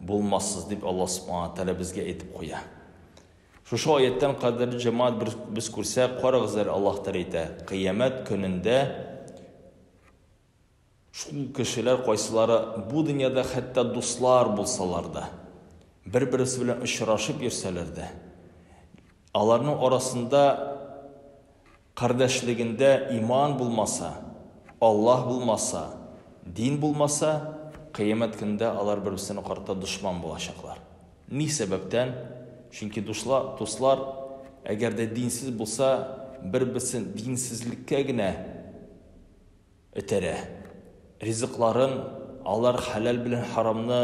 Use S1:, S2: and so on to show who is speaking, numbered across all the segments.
S1: Булмассыз, дип Аллаһ Субхана ва Тәгалә безгә әйтеп куя. Шушы аятьтән, кадерле җәмәгать, бер без күрсәк, карагыз әле, Аллаһ Тәгалә әйтә, Кыямәт көнендә шул кешеләр кайсылары бу дөньяда хәтта дуслар булсалар да, бер-берсе белән очрашып йөрсәләр дә, аларның арасында Кардәшлегендә иман булмаса, Аллаһ булмаса, дин булмаса, Кыямәт көнендә алар бер-берсенә карата дошман булачаклар. Ни сәбәптән? Чөнки душла, дуслар, әгәр дә динсез булса, бер-берсен динсезлеккә генә Этәрә. Ризыкларын, алар хәләл белән харамны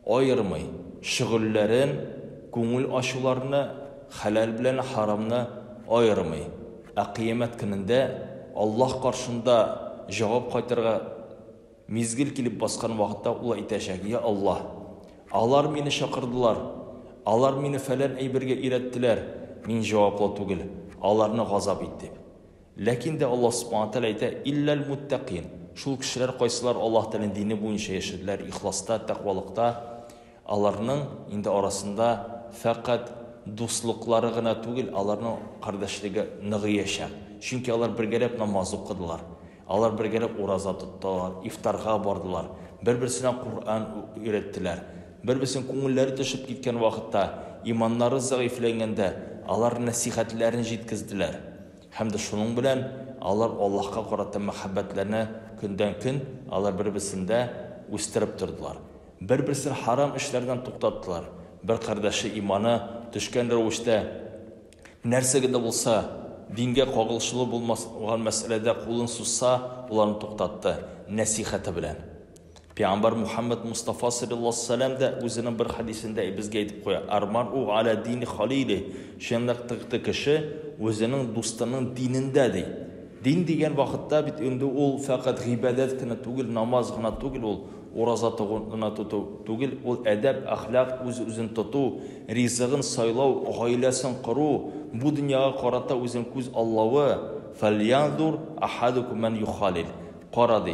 S1: аермый, шөгыльләрен, күңел ачуларны, хәләл белән харамны аермый. Ә Кыямәт көнендә Аллаһ каршында җавап кайтырга мизгел килеп баскан вакытта ул әйтәчәк, Йә Аллаһ! Алар мине чакырдылар, алар мине фәлән әйбергә өйрәттеләр, мин җаваплы түгел, аларны газап ит, дип. Ләкин дә Аллаһ Субхана ва Тәгалә әйтә, Иләлмуттәкин, шул кешеләр кайсылар Аллаһ Тәгаләнең дине буенча яшәделәр, ихласта, тәкъвалыкта, аларның инде арасында фәкать дуслыклары гына түгел, аларның кардәшлеге ныгыячак. Чөнки алар бергәләп намаз укыдылар, алар бергәләп ураза тоттылар, ифтарга бардылар, бер-берсенә Коръән өйрәттеләр. Бер-берсенең күңелләре төшеп киткән вакытта, иманнары зәгыйфьләнгәндә, алар нәсыйхәтләрен җиткезделәр. Һәм дә шуның белән алар Аллаһка карата мәхәббәтләрне көндән-көн алар бер-берсендә үстереп тордылар. Бер-берсен харам эшләрдән туктаттылар. Бер кардәше иманы төшкән рәвештә, нәрсәгә дә булса, дингә кагылышлы булмаган мәсьәләдә кулын сузса, ул аны туктатты, нәсыйхәте белән. Пәйгамбәр Мухаммад Мустафа саллаллаһу алейһи ва сәлләм дә үзенең бер хәдисендә безгә әйтеп куя, Ар-мару галя дини халили, чынлыктыгты кеше үзенең дустының динендә, ди. Дин дигән вакытта бит инде ул фәкать гыйбадәт кенә түгел, намаз гына түгел ул, ураза тогу гына тоту түгел, ул әдәп, әхлак, үз-үзен тоту, ризыгын сайлау, гаиләсен кору, бу дөньяга карата үзен күз аллавы, Фәльянзур әхәдүкүм мән юхалил, кара, ди.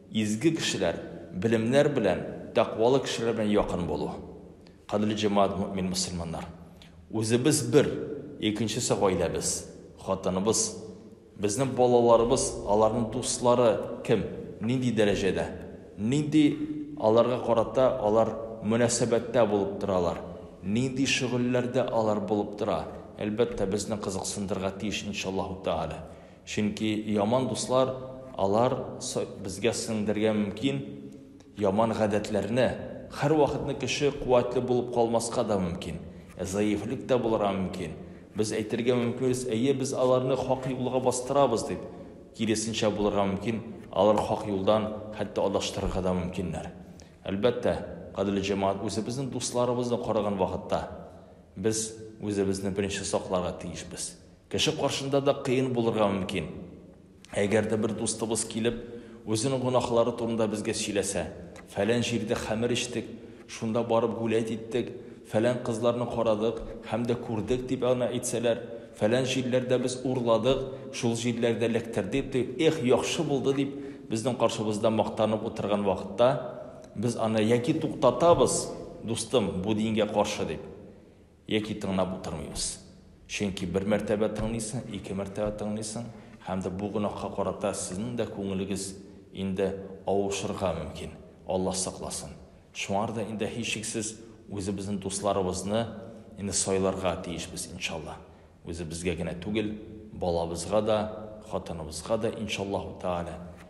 S1: Изге кешеләр, белемләр белән, тәкъвалы кешеләр белән якын булу. Кадерле җәмәгать мөэмин мөселманнар! Үзебез бер, икенчесе гаиләбез, хатыныбыз, безнең балаларыбыз, аларның дуслары кем, нинди дәрәҗәдә, нинди аларга карата алар мөнәсәбәттә булып торалар, нинди шөгыльләрдә алар булып тора, әлбәттә, безне кызыксындырырга тиеш, иншаллаһу тәгалә. Чөнки яман дуслар, алар безгә сеңдергә мөмкин яман гадәтләрне. Һәрвакытны кеше куәтле булып калмаска да мөмкин. Зәифлек тә булырга мөмкин. Без әйтергә мөмкинбез, әйе, без аларны хак юлга бастырабыз дип. Киресенчә булырга мөмкин, алар хак юлдан хәтта адаштырырга да мөмкиннәр. Әлбәттә, кадерле җәмәгать, үзебезнең дусларыбызны караган вакытта без үзебезне беренче сакларга тиешбез. Кеше каршында да кыен булырга мөмкин. Әгәр дә бер дустыбыз килеп, үзенең гөнаһлары турында безгә сөйләсә, Фәлән җирдә хәмер эчтек, шунда барып гүләйт иттек, фәлән кызларны карадык һәм дә күрдек, дип аны әйтсәләр, фәлән җирләрдә без урладык, шул җирләрдә эләктердек, дип, эх, яхшы булды, дип безнең каршыбызда мактанып утырган вакытта, без аны яки туктатабыз, Дустым, бу дингә каршы, дип, Яки тыңлап утырмыйбыз. Чөнки бер мәртәбә тыңлыйсың, ике мәртәбә тыңлыйсың, һәм дә бу гөнаһка карата сезнең дә күңелегез инде авышырга мөмкин, Алла сакласын. Шуңар да инде һичшиксез үзебезнең дусларыбызны инде сайларга тиешбез, иншалла. Үзебезгә генә түгел, балабызга да, хатыныбызга да, иншаллаһу тәгалә,